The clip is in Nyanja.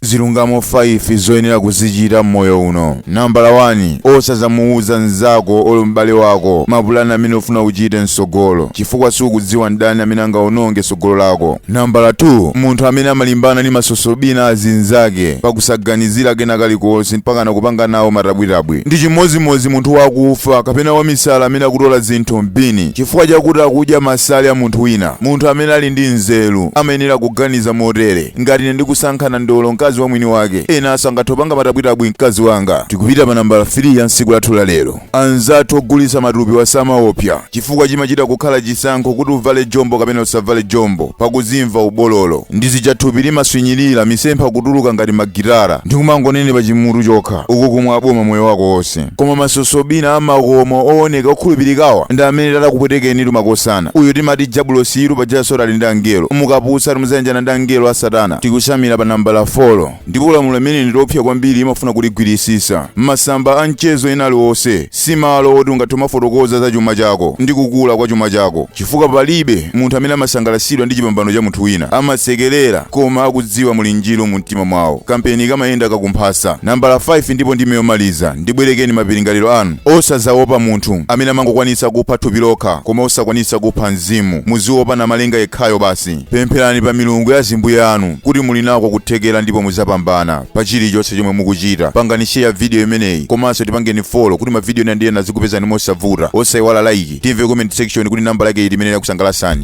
Zilungamo 5 zoyenera kuzichita m'moyo uno. Nambala 1, Osadzamuuza mnzako olo m'bale wako mapulani amene ufuna uchite m'tsogolo, chifukwa sukudziwa n'ndani amene angawononge tsogolo lako. Nambala 2, Munthu amene amalimbana ndi masosobina a zinzake pa kusaganizira kena kalikonse mpakana kupanga nawo matabwitabwi, ndi chimodzimodzi munthu wakufa kapena wamisala amene akutola zinthu m'bini chifukwa chakuti akudya masale a munthu wina. Munthu amene ali ndi nzeru amayenera kuganiza motere. ngati ine ndikusankhana ndolo ndi mkazi wa mwini wake enanso angathe kupanga matabwitabwi mkazi wanga tikupita pa nambala 3 ya tsiku lathu la lero anzathu ogulitsa matupi asamaopsa chifukwa chimachita kukhala chisankho kuti uvale jombo kapena usavale jombo pakuzimva ubololo ndi zija thupi limaswinyirira misempha kutuluka ngati magitara ndi kumangonenepa chimutu chokha ukukumwa aboma moyo wako wonse Koma masosobina a makomo owoneka okhulupirikawa ndi amene atakupwetekenitu makosana. Uyu timati jabulosi-yitu paja Satana ali ndi angelo. Mukaputsa muzayanjana ndi angelo a satana. Tikusamira pa nambala folo. Ndipo lamulo limeneli ndi loopsa kwambiri imafuna kuligwiritsitsa. Masamba a mchezo ena aliwonse si malo oti ungathe kumafotokoza za chuma chako ndi kukula kwa chuma chako. Chifukwa palibe munthu amene amasangalatsidwa ndi chipambano cha munthu wina. Amasekerera koma akudziwa ali njiru mu. mtima mwawo kampeni kamayenda kumphasa nambala 5 ndipo ndiye yomaliza ndibwerekeni mapiringaliro anu osazawopa munthu amene amangokwanitsa kupha thupi lokha koma osakwanitsa kupha mzimu muziwopa namalenga yekhayo basi pempherani pa milungu ya zimbuye anu kuti muli nako kuthekera ndipo muzapambana pa chilichonse chomwe mukuchita pangani share video imeneyi komanso tipangeni follow kuti mavidiyo ena ndi ena azikupezani mosavuta osayiwala like timve comment section kuti nambala yake iti imene yakusangalasani